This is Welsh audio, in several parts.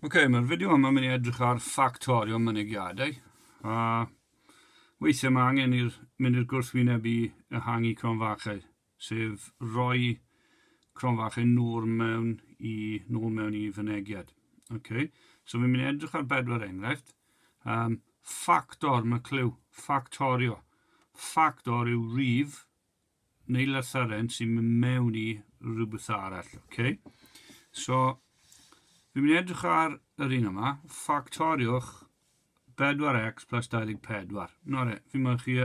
Ok, mae'r fideo yma mynd i edrych ar ffactorio mynegiadau. A weithiau mae angen i'r mynd i'r gwrthwyneb i ehangu cronfachau, sef rhoi cronfachau nôl mewn i, nôl mewn i fynegiad. Ok, so fi'n mynd i edrych ar bedwar enghraifft. Um, ffactor, mae clyw, ffactorio. Ffactor yw rif Nailer Saren sy'n mynd mewn i rhywbeth arall, ok? So, fi'n mynd edrych ar yr un yma, ffactoriwch 4x plus 24. No re, fi'n mynd chi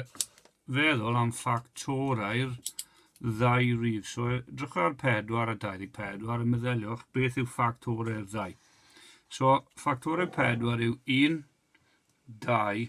feddwl am ffactorau'r ddau rif. So, edrych ar 4 a 24 a meddyliwch beth yw ffactorau'r ddau. So, ffactorau 4 yw 1, 2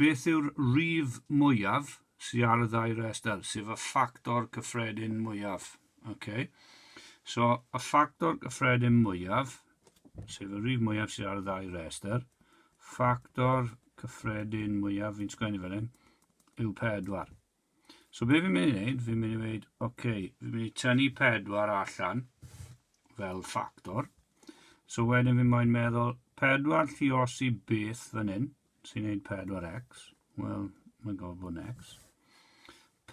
Beth yw'r rif mwyaf sy ar y ddau restr, sef y ffactor cyffredin mwyaf? Ok, so y ffactor cyffredin mwyaf, sef y rif mwyaf sydd ar y ddau restr, ffactor cyffredin mwyaf, fi'n sgwennu fel hyn, yw 4. So be fi'n mynd i wneud, fi'n mynd i wneud, oce, okay, fi'n mynd i tynnu pedwar allan fel ffactor. So wedyn fi'n mynd meddwl, pedwar lliosi beth fan hyn, sy'n gwneud pedwar x, wel, mae'n gofod bod yn x.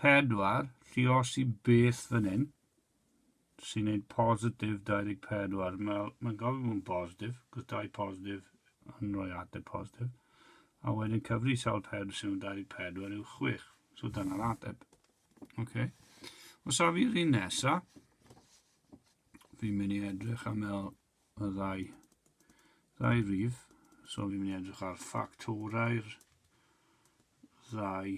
Pedwar lliosi beth fan hyn, sy'n neud positif 24. Mae'n ma gofyn bod yn positif, cos dau positif yn rhoi ateb positif. A wedyn cyfri sawl pedr sy'n nhw'n 24 yw 6. So dyna'r ateb. Okay. Os a fi'r un nesa, fi'n mynd i edrych am el y ddau, ddau rif. So fi'n mynd i edrych ar ffactorau'r ddau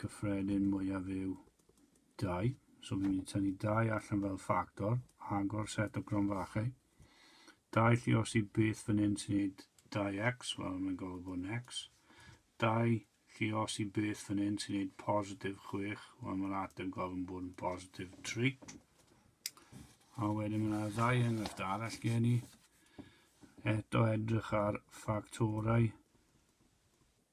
gyffredin mwyaf yw 2. So fi'n mynd i tynnu 2 allan fel ffactor, agor set o gronfachau. 2 lli os i beth fan hyn sy'n gwneud 2x, wel mae'n gofod bod yn x. 2 lli os i beth fan hyn sy'n gwneud positif 6, wel mae'r ateb gofyn bod yn positif 3. A wedyn mae'n ddau enghraifft arall gen i. Eto edrych ar ffactorau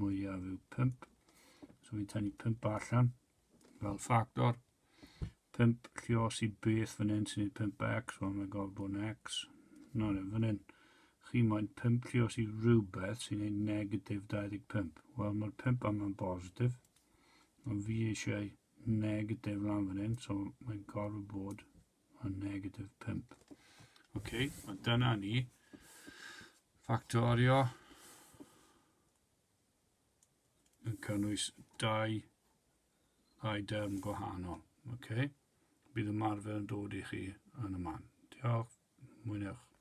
mwyaf yw 5. So fi'n tynnu 5 allan fel ffactor. 5 lle os i beth fan hyn sy'n gwneud 5x, wel mae'n gofod bod yn x. No, no, fan hyn. Chi moyn 5 lle os i rhywbeth sy'n gwneud negatif 25. Wel, mae'r 5 yma'n bositif. Ond fi eisiau negatif lan fan hyn, so mae'n gofod bod o negatif 5. Ok, a dyna ni ffactorio yn cynnwys dau ddau derm gwahanol. Ok, bydd ymarfer yn dod i chi yn y man. Diolch, mwynhewch.